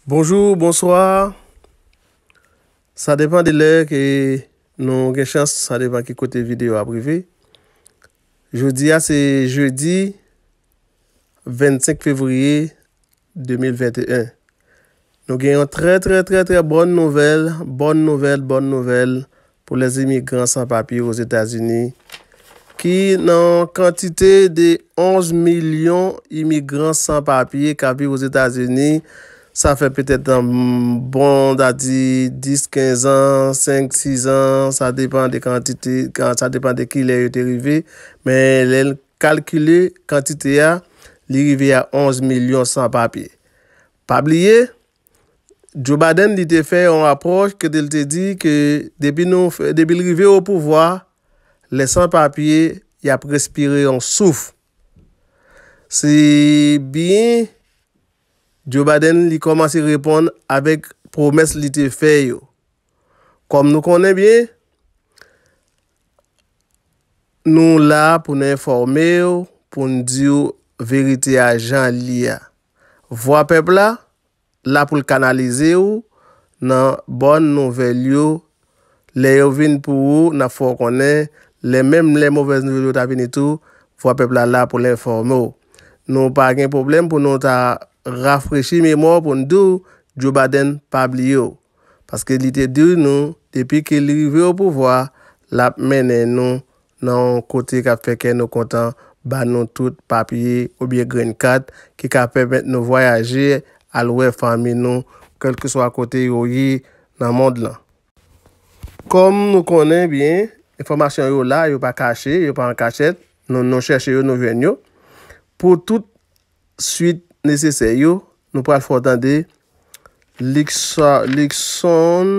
Bonjou, bonswa, sa depan de lè ke nou gen chans, sa depan ki kote videyo ap rive. Jodi a se jedi 25 fevriye 2021. Nou gen yon trè trè trè trè bòn nouvèl, bòn nouvèl, bòn nouvèl Pou lè imigran san papye Ozetazini ki nan yon kantite de 11 milyon imigran san papye kap viv Ozetazini, sa fè petèt bon ta di 10, 15 an, 5, 6 an, sa depan de kantite, sa depan de kilè yo te rive, men lèn kalkile kantite a, li rive a 11 milyon san papye. Pa bliye, Joe Biden li te fè yon apwòch kote l te di ke depi nou depi l rive o pouvwa, lè san papye y ap respire yon souf. Se byen Joe Biden li kòmanse reponn avèk pwomès li te fè yo. Kòm nou konnen byen, nou la pou nou enfòme w, pou nou di w verite a jan li a. Vwa pèp la, la pou l kanalize w nan bòn nouvèl yo. Lè yo vin pou ou, n ap fè w konnen, lè menm lè movèz nouvèl yo ta vini tou, Vwa Pèp la la pou l enfòme w. Nou pa gen pwoblèm pou nou ta rafrechi memwa w pou n di w Joe Baden pa bliye w. Paske li te di nou depi ke li rive opouvwa, l ap mennen nou nan yon kote k ap fè kè nou kontan, ba nou tout papye oubyen grenn kat ki ka pèmèt nou vwayaje al wè fanmi nou kèlkeswa kote yo ye nan mond lan. Kòm nou konnen byen, enfòmasyon yo la, yo pa kache, yo pa an kachèt, nou chèche yo, nou jwenn yo. Pou tout suit nesesè yo, nou pral fè w tande Luckson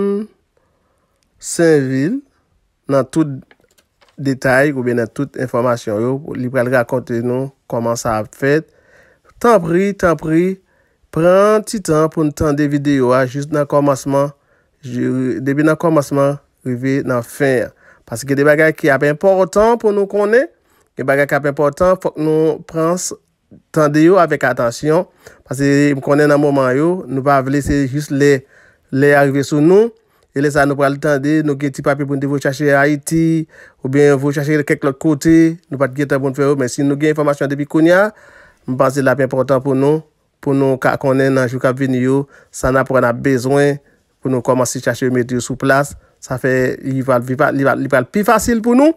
Sainvil. Nan tout detay oubyen nan tout enfòmasyon yo, li pral rakonte nou kòman sa ap fèt. Tanpri, tanpri, pran ti tan pou n tande videyo a jis nan kòmansman, depi nan kòmansman rive nan fen an. Paske gen de bagay ki ap enpòtan pou nou konnen, gen bagay k ap enpòtan, fòk nou pran tande yo avèk atansyon, paske m konnen nan moman yo, nou pa vle se jis lè lè a rive sou nou, e lè sa nou pral tande, nou gen ti papye pou nou te voye chache Ayiti, oubyen voye chache kèk lòt kote, nou pa t gen tan pou nou fè yo, men si nou gen enfòmasyon depi kounya, m panse l ap enpòtan pou nou, pou nou ka konnen nan jou k ap vini yo, sa n ap wè n ap bezwen, pou nou kòmanse chache remèt yo sou plas, sa fè li pral pi fa, li va, li pral pi fasil pou nou,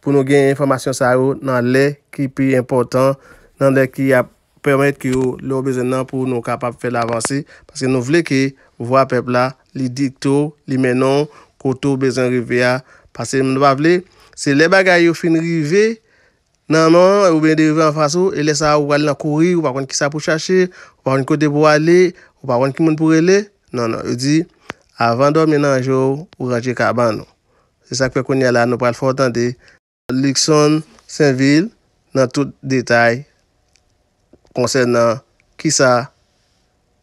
pou nou gen enfòmasyon sa yo nan lè ki pi enpòtan, nan lè ki ap pèmèt ke yo, lè yo bezwen l nan pou nou kapab fè l avanse, paske nou vle ke vwa pèp la, li dikte w, li mennen w kote w bezwen rive a, pase nou pa vle, se lè bagay yo fin rive, Nan men w, oubyen devan anfas ou, e lè sa a ou pral nan kouri, ou pa konn kisa pou chache, ou pa konn kote pou ale, ou pa konn ki moun pou rele? Non, non. Yo di, Avan dòmi nan je w, ou ranje kabann ou. Se sa k fè kounye a la a nou pral fè w tande. Luckson Sainvil nan tout detay konsènan kisa.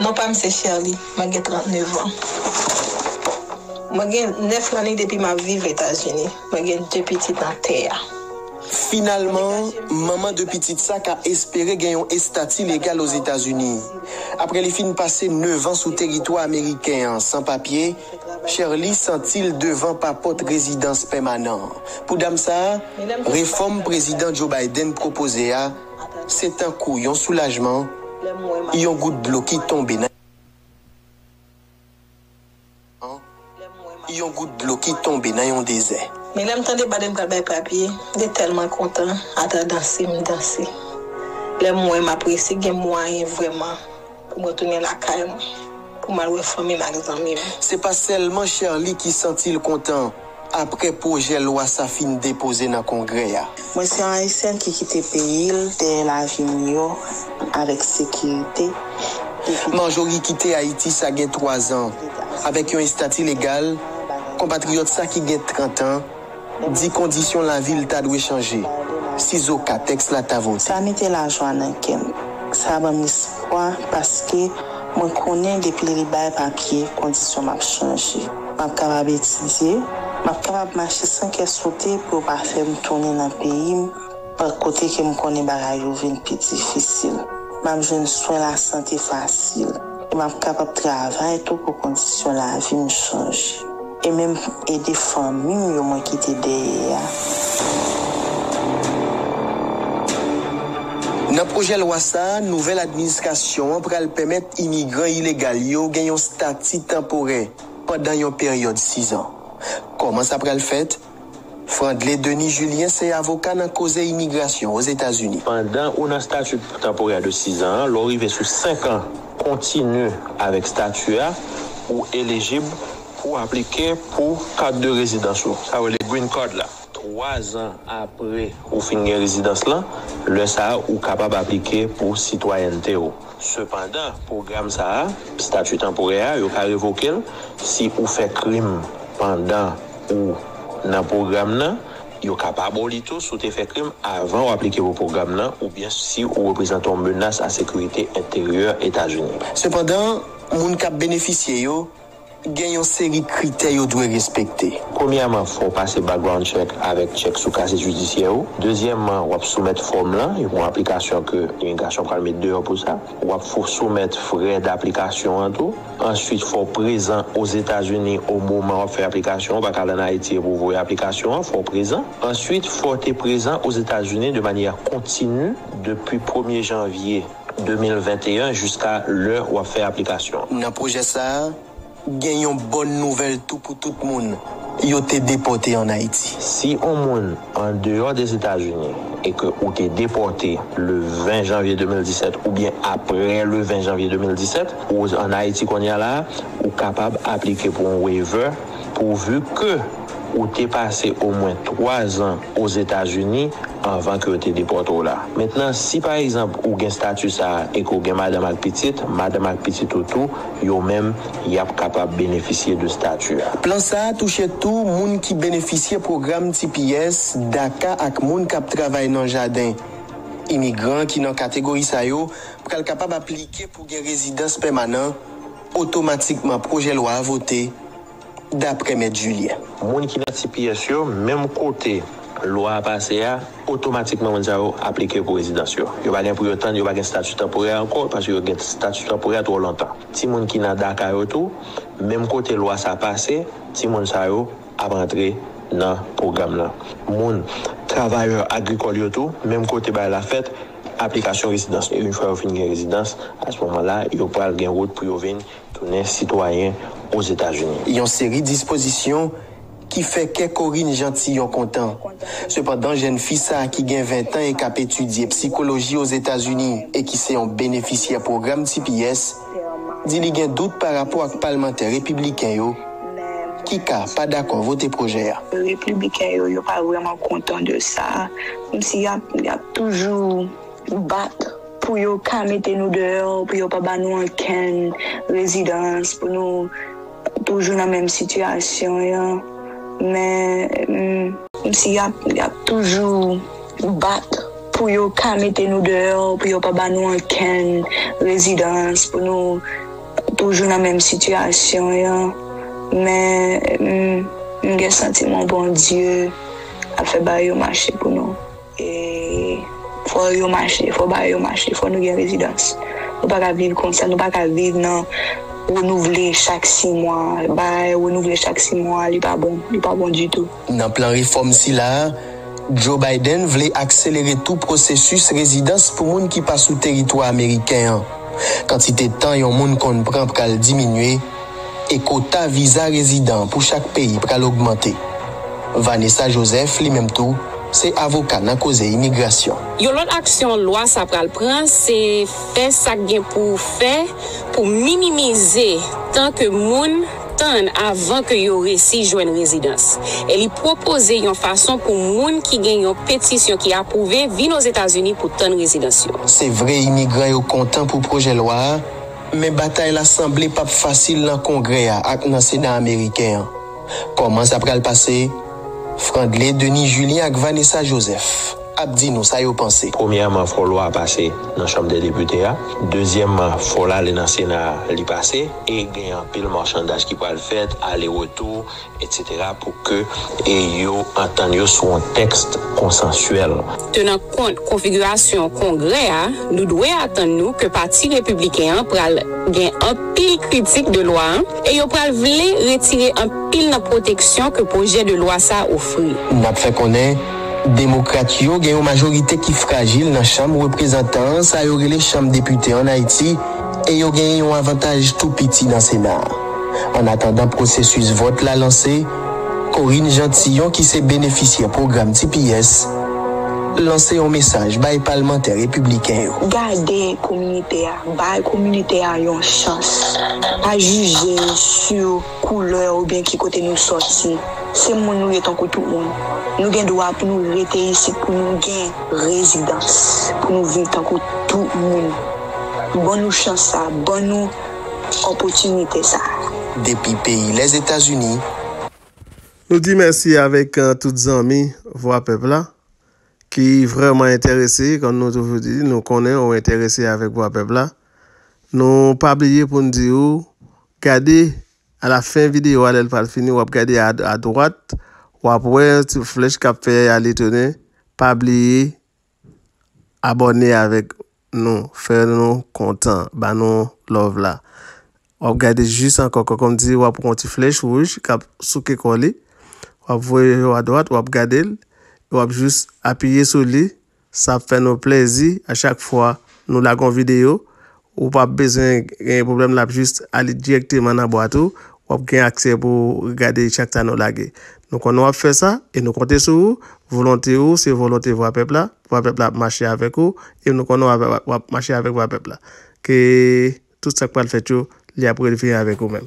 Non pa m se Sherley, mwen gen 39 an. Mwen gen 9 lane depi m ap viv Etazini. Mwen gen 2 pitit nan tè a. Finalman, manman 2 pitit sa ka espere gen yon estati legal Ozetazini. Apre li fin pase 9 an sou teritwa ameriken an san papye, Sherley santi l devan pa pot rezidans pèmanan. Pou dam sa, refòm Prezidan Joe Biden pwopoze a Se tankou yon soulajman, yon gout dlo ki tonbe nan. Yon gout dlo ki tonbe nan yon dezè. Men lè m tande bad m pral bay papye, m te tèlman kontan ata danse m danse. Lè m wè m ap resi gen mwayen vrèman. Pou mwen tounen lakay mwen. Pou m al wè fanmi m ak zanmi m. Se pa sèlman Sherley ki santi l kontan aprè pwojè lwa sa fin depoze nan Kongrè a. Mwen se yon Ayisyèn ki kite peyi l dèyè lavi miyò avèk sekirite depi. Marjorie kite Ayiti sa gen 3 zan avèk yon estati legal konpatriyòt sa ki gen 30 an. Di kondisyon lavi l ta dwe chanje, sizoka tèks la ta vote. Sa mete lajwa nan kè m. Sa ban m espwa paske mwen konnen depi li bay papye, kondisyon m ap chanje. M ap kapab etidye, m ap kapab mache san kè sote pou yo pa fè m tounen nan peyi m pa kote ke m konnen bagay yo vin pi difisil. M ap jwenn swen lasante fasil e m ap kapab travay tou pou kondisyon lavi m chanje. E menm ede fanmi m yo mwen kite dèyè a. Nan pwojè lwa sa a, nouvèl administrasyon an pral pèmèt imigran ilegal yo gen yon stati tanporè pandan yon peryòd sizan. Kòman sa pral fèt? Frandley Denis Julien se avoka nan koze imigrasyon Ozetazini. Pandan ou nan stati tanporè de 6 an an, lè w rive sou 5 an kontini avèk stati a, ou elijib pou w aplike pou kat de rezidans ou, sa yo rele Green Card la. Twazan apre ou fin gen rezidans lan, lè sa a ou kapab aplike pou sitwayènte ou. Sepandan, pwogram sa a, stati tanporè a, yo ka revoke l si ou fè krim pandan. ou nan pwogram nan, yo ka pa ba w li tou si w te fè krim avan w aplike pou pwogram nan oubyen si ou reprezante yon menas a sekirite enteryè Etazini. Sepandan, moun k ap benefisye yo gen yon seri kritè yo dwe respekte. Premyèman, fò w pase background check avèk tchèk sou kase jidisyè ou. Dezyèman, w ap soumèt fòm lan, yo gen yon aplikasyon ke imigrasyon pral met deyò pou sa. W ap soumèt frè daplikasyon an tou. Answit fò w prezan Ozetazini o moman w ap fè aplikasyon an, ou pa ka al an Ayiti epi w voye aplikasyon an, fò w prezan. Answit fò w te prezan Ozetazini de manyè kontinu depi premye janvye 2021 jiska lè w ap fè aplikasyon an. Nan pwojè sa a, gen yon bòn nouvèl tou pou tout moun yo te depòte an Ayiti. Si on moun an deyò Dezetazini e ke ou te depòte le 20 janvye 2017 oubyen apre le 20 janvye 2017, ou an Ayiti kounye la a, ou kapab aplike pou yon waiver pouvu ke ou te pase omwen 3 zan Ozetazini anvan ke yo te depòte w la. Mentnan, si pa egzanp ou gen stati sa a e ke w gen madanm ak pitit, madanm ak pitit ou tou, yo menm y ap kapab benefisye de stati a. Plan sa a touche tou moun ki benefisye pwogram tps, daca ak moun k ap travay nan jaden. Imigran ki nan kategori sa yo pral kapab aplike pou gen rezidans pèmanan otomatikman pwojè lwa a vote. daprè mèt Julien. Moun ki nan tps yo, menm kote lwa a pase a, otomatikman moun sa yo aplike pou rezidans yo. Yo pa gen pou yo tann, yo pa gen stati tanporè ankò, paske yo gen stati tanporè twò lontan. Timoun ki nan daka yo tou, menm kote lwa sa pase, timoun sa yo ap antre nan pwogram lan. Moun, travayè agrikòl yo tou, menm kote bagay la fèt, aplikasyon rezidans. Une fwa yo fin gen rezidans, a se moman la, yo pral gen wout pou yo vin. Tounen sitwayen Ozetazini. Yon seri dispozisyon ki fè kè Corinne Jeantillon kontan. Sepandan jèn fi sa ki gen 20 tan e k ap etidye psikoloji Ozetazini e ki se yon benefisyè pwogram tps, di li gen dout pa rapò ak palmantè repibliken yo ki ka pa dakò vote pwojè a. Repibliken yo, yo pa vrèman kontan de sa. Kòmsi y ap toujou bat. Pou yo ka mete nou deyò, pou yo pa ba nou ankenn rezidans, pou nou toujou nan menm sitiyasyon an, men. Menm si y ap toujou bat pou yo ka mete nou deyò, pou yo pa ba nou ankenn rezidans, pou nou toujou nan menm sitiyasyon an, men m gen santiman Bondye ap fè bagay yo mache pou nou. E fò yo mache, fò ba yo mache, fò nou gen rezidans. Nou pa ka viv konsa, nou pa ka viv nan renouvle chak si mwa, bay renouvle chak si mwa, li pa bon, li pa bon ditou. Nan plan refòm sila a, Joe Biden vle akselere tou pwosesis rezidans pou moun ki pa sou teritwa ameriken an. Kantite tan yon moun konn pran pral diminye, e kota viza rezidan pou chak peyi pral ogmante. Vanessa Joseph, li menm tou, se avoka nan koze imigrasyon. Yon lòt aksyon lwa sa pral pran, se fè sa k gen pou fè pou minimize tan ke moun tann avan ke yo resi jwenn rezidans, e li pwopoze yon fason pou moun ki gen yon petisyon ki apwouve vin Ozetazini pou tann rezidans yo. Se vre imigran yo kontan pou pwojè lwa a, Men batay la sanble p ap fasil nan Kongrè a ak nan Sena ameriken an. Kòman sa pral pase? Frandley Denis Julien ak Vanessa Joseph ap di nou sa yo panse. Premyèman, fò lwa a pase nan Chanm dè Depite a. Dezyèmman, fò l ale nan Sena a, li pase. E gen anpil machandaj ki pral fèt, ale retou. Etc pou ke yo antann yo sou yon tèks konsansyèl. Tenan kont konfigirasyon Kongrè a, nou dwe atann nou ke Pati Repibliken an pral gen anpil kritik de lwa an e yo pral vle retire anpil nan pwoteksyon ke pwojè de lwa sa a ofri. N ap fè konnen Demokrat yo gen yon majorite ki frajil nan Chanm Reprezantan an, sa yo rele Chanm Depite ann Ayiti, e yo genyen yon avantaj tou piti nan Sena a. An atandan pwosesis vòt la lanse, Corine Jean Tillon ki se benefisyè pwogram tps, lanse yon mesaj bay palmantè repibliken yo. Gade kominite a, bay kominite a yon chans. Pa jije sou koulè oubyen ki kote nou sòti. Se moun nou ye tankou tout moun. Nou gen dwa pou nou rete isit, pou nou gen rezidans, pou nou viv tankou tout moun. Ban nou chans sa a, ban nou opotinite sa. Depi peyi Lèzetazini. Nou di mèsi avèk tout zanmi Vwa Pèp la ki vrèman enterese, kòm nou toujou di, nou konnen ou enterese avèk Vwa Pèp la. Nou pa bliye pou n di ou, gade alafen videyo a lè l pral fini, w ap gade adwat, w ap wè yon ti flèch k ap fè ale tounen, pa bliye Abòne avèk nou fè nou kontan ba nou love la wap gade jis ankò kòm di wap pran yon ti flèch wouj kap souke kò li wap voye yo adwat wap gadel wap jis apiye sou li sa ap fè nou plèzi a chak fwa nou lage yon videyo Ou pap bezwen gen pwoblèm lap jis ale dirèkteman nan bwat ou, wap gen aksè pou gade chak sa nou lage. Nou konnen wap fè sa e nou konte sou ou, volonte ou se volonte vwa pèp la, vwa pèp la ap mache avèk ou e nou konnen wap mache avèk vwa pèp la. Ke tout sak pral fèt yo li ap relve avèk ou menm.